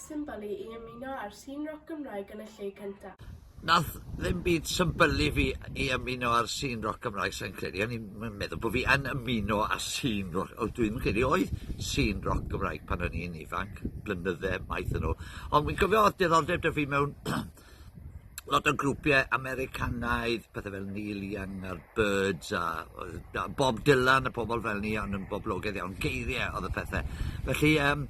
symbol i i ymuno â'r sîn roc Gymraeg yn y lle cynta. Nath ddim byd symbylu fi i ymuno â'r sîn roc Gymraeg sai'n credu o'n i'm yn meddwl bo' fi yn ymuno â sîn roc o dwi'm yn credu oedd sîn roc Gymraeg pan o'n i'n ifanc, blynydde maith yn ôl. Ond wi'n cofio o'dd diddordeb 'da fi mewn lot o grwpie Americanaidd, pethe fel Neil Young a'r Byrds a oedd a Bob Dylan a pobl fel 'ny o'n yn boblogedd iawn, geirie oedd y pethe. Felly yym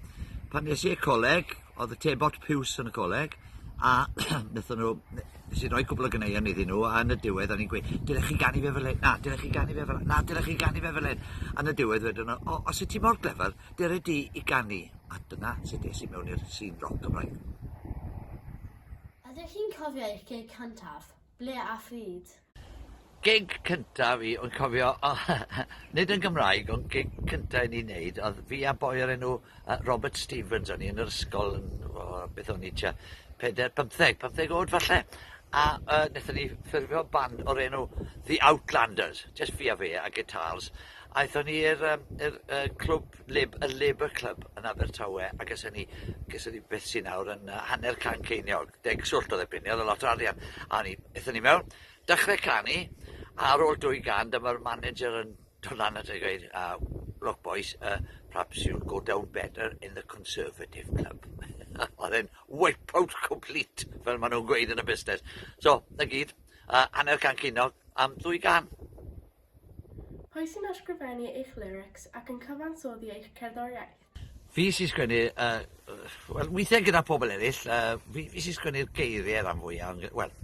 pan es i i'r coleg, oedd y tebot piws yn y coleg, a nethon nhw ne- nes i roi cwpl o ganeuon iddyn nhw, a yn y diwedd o'n i'n gweud, dyle chi ganu fe fel hyn, na, dyle chi ganu fe fel 'na, na, dyle chi ganu fe fel hyn. A yn y diwedd wedon nhw, o, os wyt ti mor glyfar, Dere di i ganu, a dyna sut es i mewn i'r sîn roc Gymraeg. Ydych chi'n cofio eich gig cyntaf? Ble a phryd? Gig cynta fi, o'n cofio, nid yn Gymraeg, ond gig cynta i ni wneud, oedd fi a boi o'r enw Robert Stevens, o'n i yn yr ysgol, yn, o, beth o'n i tua, peder, pymtheg, pymtheg oed falle, a uh, wnaethon ni ffurfio band o'r enw The Outlanders, just fi a fe a gitars, Aethon ni i'r yym i'r yy clwb lib- y Labour Club yn Abertawe a geson ni geson ni beth sy nawr yn yy hanner can ceiniog, deg swllt odd erbyn 'ny odd e lot o arian a o'n i ethon ni mewn dechre canu a ar ôl dwy gan dyma'r manager yn do' lan ato ni a gweud yy look boys yy perhaps you'll go down better in the Conservative Club. Odd e'n wipe out complete fel ma' nw'n gweud yn y busnes. So 'na gyd yy hanner can ceiniog am ddwy gân. Pwy sy'n ysgrifennu eich lyrics ac yn cyfansoddi eich cerddoriaeth? Fi sy'n sgwennu, yy, wel, weithiau gyda pobl eraill, yy, fi, fi sy'n sgwennu'r geiriau rhan fwya, wel,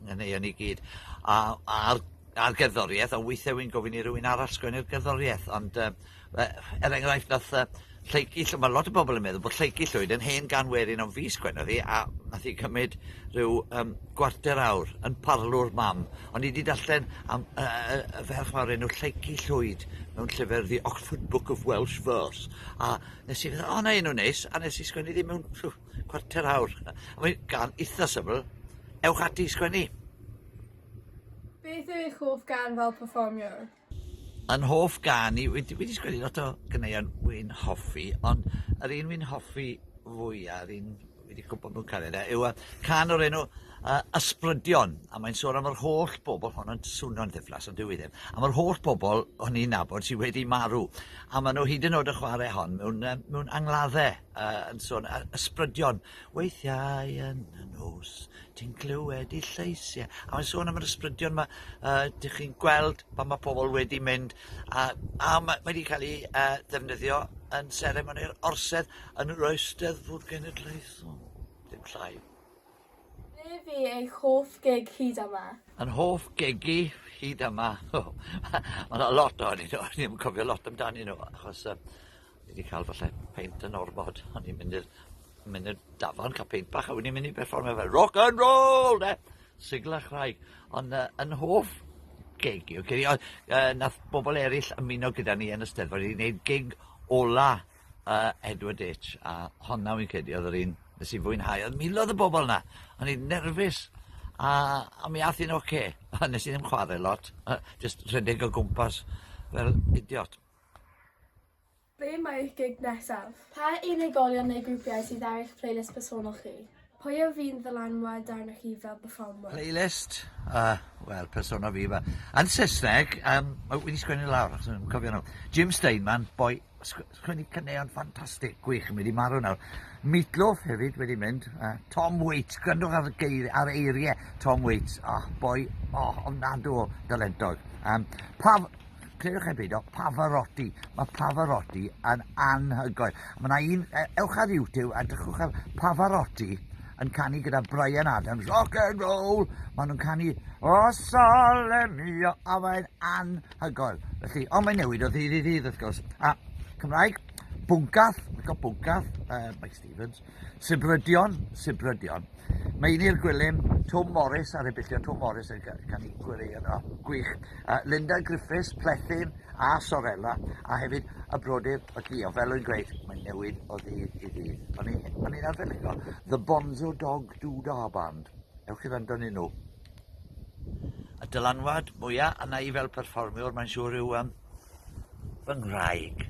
nghaneuon i gyd, a, a'r, a'r gerddoriaeth, a weithiau wy'n gofyn i rywun arall sgwennu'r gerddoriaeth, ond, yy, Yy, er enghraifft, nath yy Lleucu Llw- ma' lot o bobl yn meddwl bod Lleucu Llwyd yn hen gan werin ond fi sgwennodd hi a nath hi cymyd rhyw yym gwarter awr yn parlwr mam ond i 'di darllen am yy yy y ferch 'ma o'r enw Lleucu Llwyd mewn llyfr The Oxford Book of Welsh Verse a nes i feddwl o 'na enw neis a nes i sgwennu ddi mewn ffw, cwarter awr a mae'n gan itha syml ewch ati i sgwennu. Beth yw eich hoff gân fel perfformiwr? Yn hoff gan i wedi wedi sgwennu lot o ganeuon wi'n hoffi ond yr un wi'n hoffi fwya yr un fi 'di cwmpo mewn cariad â yw y can o'r enw yy Ysbrydion a mae'n sôn am yr holl bobl hon yn swno'n ddiflas ond dyw 'i ddim am yr holl bobl o'n i'n nabod sy wedi marw a ma' nw hyd yn o'd y chware hon mewn yym mewn angladde. yy yn sôn a- ysbrydion weithiau yn y nos ti'n clywed 'u llais e a mae'n sôn am yr ysbrydion 'ma yy dych chi'n gweld pan ma' pobol wedi mynd a a ma' mae 'di ca'l 'i yy ddefnyddio yn seremoni'r Orsedd yn yr Eisteddfod Genedlaethol. Dim llai. Be fi eich hoff gig hyd yma? Yn hoff gig i hyd yma? Mae yna lot o'n i'n o'n i'n cofio lot amdani nhw, achos uh, fi wedi cael falle peint yn ormod, o'n i'n mynd i'r mynd i'r dafon cael peint bach, a wedi mynd i berfformio fel rock and roll, de! Sigla chraig, ond uh, yn hoff gig i, okay, uh, nath bobl eraill ymuno gyda ni yn y steddfod i wneud gig ola a Edward H a honna fi'n credu oedd yr un nes i fwynhau. Oedd milodd y bobl yna. O'n i'n nerfus. A, a mi ath i'n oce. Okay. A nes i ddim chwarae lot. Just rhedeg o gwmpas fel idiot. Be mae eich gig nesaf? Pa unigolion neu grwpiau sydd ar eich playlist personol chi? Pwy yw'r un ddylanwad arnoch chi fel perfformwr? Playlist? O, wel, persona fi yma. Yn Saesneg, um, wedi sgwennu lawr, achos yn cofio nhw. Jim Steinman, boi, sgwennu cyneuon ffantastig, gwych, yn wedi marw nawr. Meatloaf hefyd wedi mynd. Uh, Tom Waits, gwrandwch ar, geir, ar eiriau Tom Waits. Oh, boi, oh, ofnadw o dalentog. Um, pa, Clywch chi beidio, Pavarotti. Mae Pavarotti yn anhygoel. Mae yna un, e, ewch ar YouTube a dychwch ar Pavarotti yn canu gyda Bryan Adams, rock and roll. Maen nhw'n canu, o sole mio, a mae'n anhygoel. Felly, ond mae'n newid o ddydd i ddydd, wrth gwrs. A Cymraeg, Bwncath, mae'n cael Bwncath, uh, Mike Stevens. Sibrydion, Sibrydion. Mae un i'r gwilym, Twm Morris, ar ebillio Twm Morris, yn gan i gwirio yno. Gwych. Uh, Linda Griffiths, Plethyn a Sorella, a hefyd y brodyr o Gio. Fel o'n gweud, mae'n newid o ddydd i ddydd. O'n i'n arfer licio The Bonzo Dog Doodah Band. Ewch i wrando ni nhw. Y dylanwad mwyaf yna i fel perfformiwr, mae'n siŵr yw um, fy nghraig.